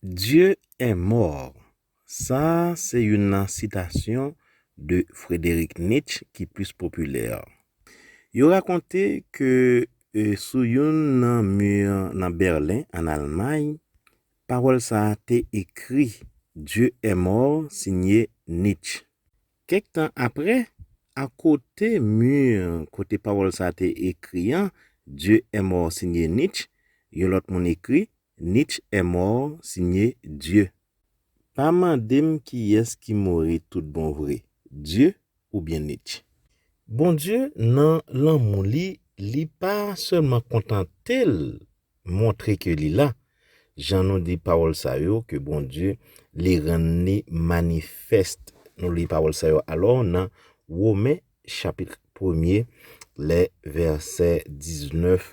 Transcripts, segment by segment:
Dieu est mort sa a se youn nan sitasyon de Frederick Nietzsche ki plis popilè. Yo rakonte ke sou youn nan mi nan Berlen, ann Almay, pawòl sa a te ekri, Dieu est mort siye Nietzsche. Kèk tan apre, akote mi kote pawòl sa a te ekri an, Dieu est mort siye Nietzsche, yon lòt moun ekri, Nich est mort signe Dieu. Pa mandem kiyes ki mouri tout bon vre Dieu ou byen Nich. Bondye nan lanmou li li pa sèlman kontantel montre ke li la, jan nou di pawòl sa yo ke Bondye li rann li manifest nou li pawòl sa yo alò nan Women chapitr premye lè vèsè 19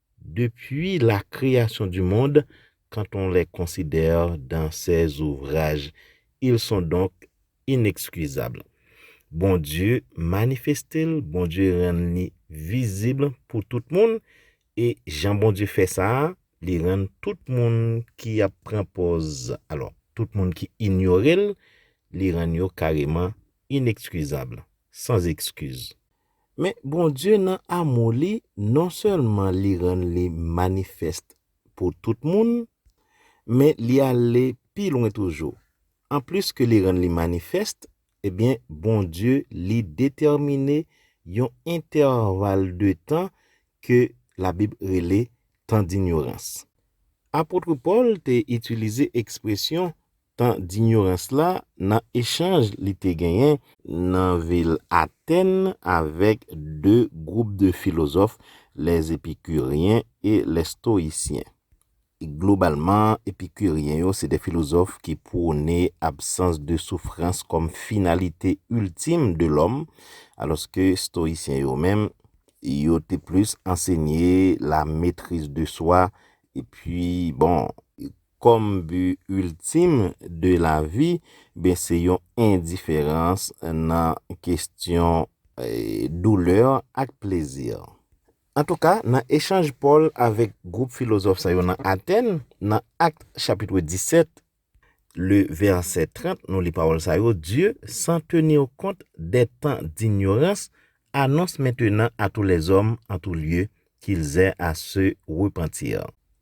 Depuis la création du monde, quand on les considère dans ces ouvrages, ils sont donc inexcusables. Bondye manifeste l, Bondye rann li vizib pou tout moun, e jan Bondye fè sa a, li rann tout moun ki ap pran pòz, alò, tout moun ki inyore l, li rann yo kareman inexcusables, sans excuse. Men, Bondye nan amou li, non sèlman li rann li manifèst pou tout moun, men li ale pi lwen toujou. Anplis ke li rann li manifèst, ebyen, Bondye li detèmine yon entèval de tan ke Labib rele tan dinyorans. Apotre Pòl te itilize ekspresyon tan dinyorans la nan echanj li te genyen nan vil Atèn avèk de gwoup de filozòf, lè Epikiryen e lè Stoyisyen. Globalman, Epikiryen yo se de filozòf ki pwone absans de soufrans kòm finalite iltim de lòm, alòske Stoyisyen yo menm, yo te plis ansenye la metriz de swa, epi bon, kòm bi iltim de lavi, ben se yon endiferans nan kestyon doulè ak plezi. Antouka, nan echanj Pòl avèk gwoup filozòf sa yo nan Atèn, nan Akt chapitre 17, le vèsè 30, nou li pawòl sa yo, Dieu, sans tenir compte des temps d'ignorance, annonce maintenant à tous les hommes en tout lieu qu'ils aient à se repentir.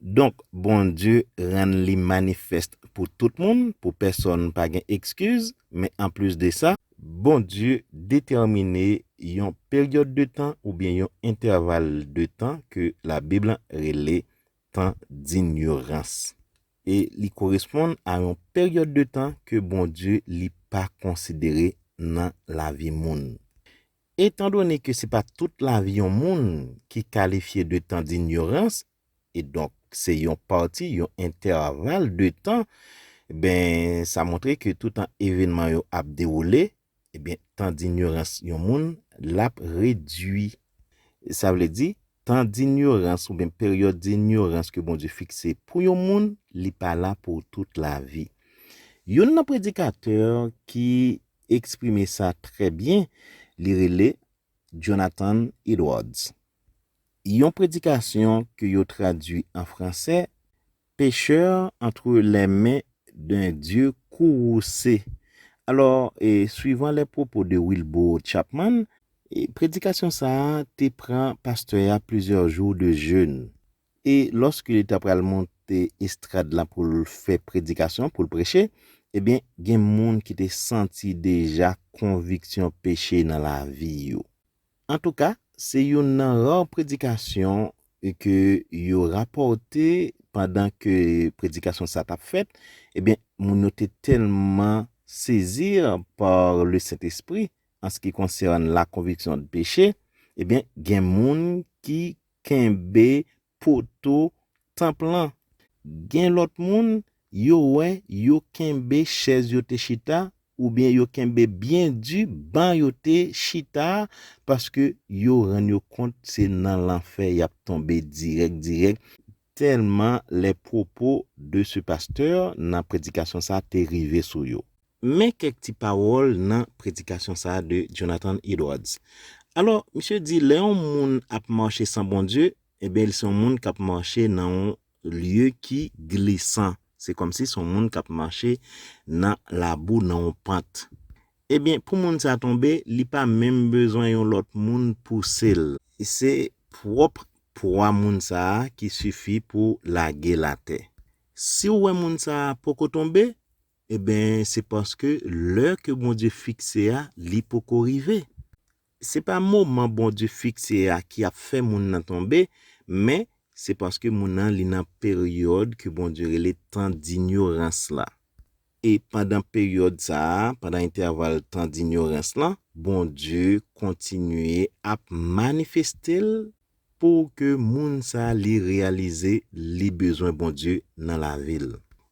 Donk, Bondye rann li manifèst pou tout moun, pou pèsonn pa gen ekskiz, men anplis de sa, Bondye detèmine yon peryòd de tan oubyen yon entèval de tan ke Labib lan rele tan d'inyorans e li koresponn a yon peryòd de tan ke Bondye li pa konsidere nan lavi moun. Etandone ke se pa tout lavi yon moun ki kalifye de tan d'inyorans, e donk se yon pati, yon entèval de tan, ben sa montre ke toutan evenman yo ap dewoule, e ben tan d'inyorans yon moun l'ap redui. Sa vle di, tan d'inyorans ou ben peryòd d'inyorans ke Bondye fikse pou yon moun, li pa la pou tout lavi. Youn nan predikatè ki eksprime sa trè byen, li rele Jonathan Edwards. Yon predikasyon ke yo tradui an franse, Pecheur entre les mains d'un Dieu courroucé. Alò, swivan les propos de Wilbur Chapman, predikasyon sa a te pran pastè a plizyè jou de jeûne. E lòske li ta pral monte estrad la pou l fè predikasyon, pou l preche, ebyen, gen moun ki te santi deja konviksyon peche nan lavi yo. Antouka, se youn nan ra predikasyon ke yo rapòte pandan ke predikasyon sa a t ap fèt, ebyen, moun yo te tèlman sezi par le Sentespri anski konsène la conviction de péché, ebyen, gen moun ki Kenbe poto tanp lan. Gen lòt moun, yo wè yo kenbe chèz yo te chita oubyen yo kenbe byen di ban yo te chita a paske yo rann yo kont se nan lanfè y ap tonbe dirèk dirèk tèlman les propos de ce pasteur nan predikasyon sa te rive sou yo. Men kèk ti pawòl nan predikasyon sa a de Jonathan Edwards. Alò, misye di lè yon moun ap mache san Bondye, enben li se yon moun k ap mache nan yon lye ki glisan, se kòmsi se yon moun k ap mache nan labou, nan yon pant. Ebyen, pou moun sa a tonbe, li pa menm bezwen yon lòt moun pouse l. Se pwòp pwa moun sa a ki sifi pou lage l atè. Si w wè moun sa a poko tonbe, Enben, se paske lè ke Bondye fikse a, li poko rive. Se pa moman Bondye fikse a ki ap fè moun nan tonbe, men, se paske moun nan li nan peryòd ke Bondye rele tan dinyorans la. E pandan peryòd sa a, pandan entèval tan dinyorans lan, Bondye kontinye ap manifeste l pou ke moun sa li reyalize li bezwen Bondye nan lavi l.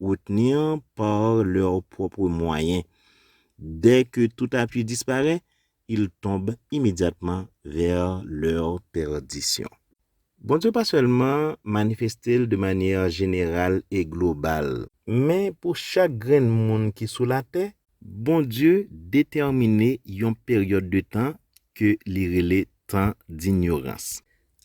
retenir par leurs propres moyens. Dès que tout appui disparaît, ils tombent immédiatement vers leur perdition. Bondye pa sèlman manifeste l de manyè jeneral e global. Men pou chak grenn moun ki sou latè. Bondye detèmine yon peryòd de tan ke li rele tan dinyorans.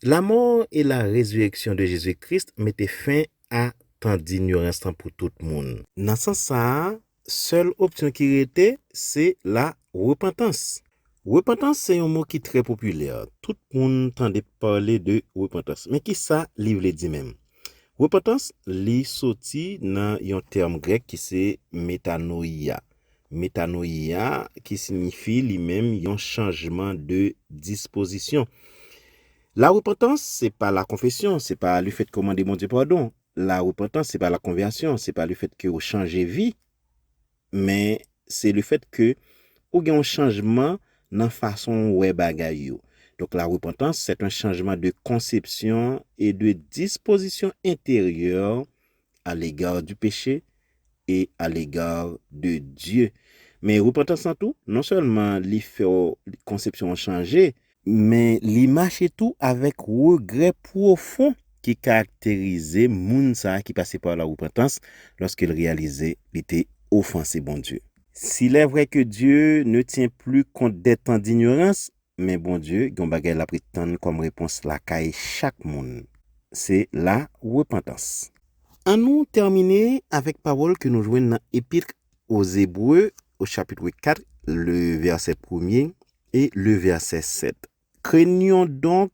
Lamò e la rezireksyon de Jezi Kris mete fen a tan dinyorans lan pou tout moun. Nan sans sa a, sèl opsyon ki rete, se la repantans. Repantans se yon mo ki trè popilè, tout moun tande pale de repantans. Men ki sa li vle di menm? Repantans, li soti nan yon tèm grèk ki se metanoia. Metanoia ki sinyifi li menm yon chanjman de dispozisyon. La repantans se pa la konfesyon, se pa le fèt ke w mande Bondye padon. La repantans se pa la konvèsyon, se pa le fèt ke w chanje vi. Men, se le fèt ke ou gen yon chanjman nan fason w wè bagay yo. Donk la repantans, c'est un changement de conception et de disposition intérieure a l'égard du péché et a l'égard de Dieu. Men repantans lan tou, non sèlman li fè w konsepsyon w chanje, men li mache tou avèk regrè pwofon ki karakterize moun sa ki pase pa la repantans lòske l reyalize li te ofanse Bondye. S'il est vrai que Dieu ne tient plus compte des temps d'ignorance, Men Bondye gen yon bagay lap ret tann kòm repons lakay chak moun. Se la repantans. An nou tèmine avèk pawòl ke nou jwenn nan Epitl Oz Ebre o chapitre 4 le vèsè premye e le vèsè 7, Krenyon donk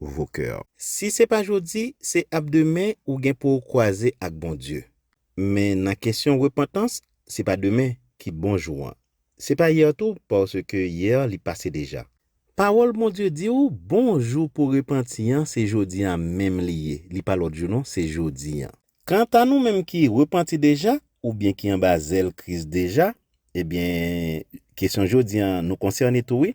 vos cœurs. Si se pa jodi, se ap demen ou gen pouw kwaze ak Bondye. Men nan kesyon repantans, se pa demen ki bon jou an. Se pa hier tou paske hier li pase deja. Pawòl Bondye di ou bon jou pou repanti an se jodi an menm li ye, li pa lòt jou non, se jodi an. Kanta nou menm ki repanti deja oubyen ki anba zèl Kris deja, ebyen kesyon jodi an nou konsène tou wi,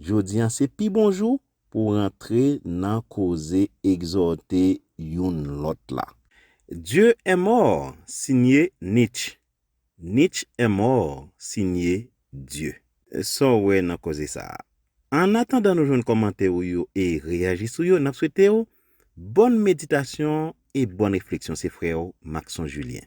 Jodi an se pi bon jou pou rantre nan koze egzòte youn lòt la. Dieu est mort signe Nitch Nitch est mort signe Dieu. Sa w wè nan koze sa a? An atandan nou jwenn kòmantè ou yo e reyaji sou yo, n ap swete w bòn meditasyon e bòn refleksyon se frè w Maxon Julien.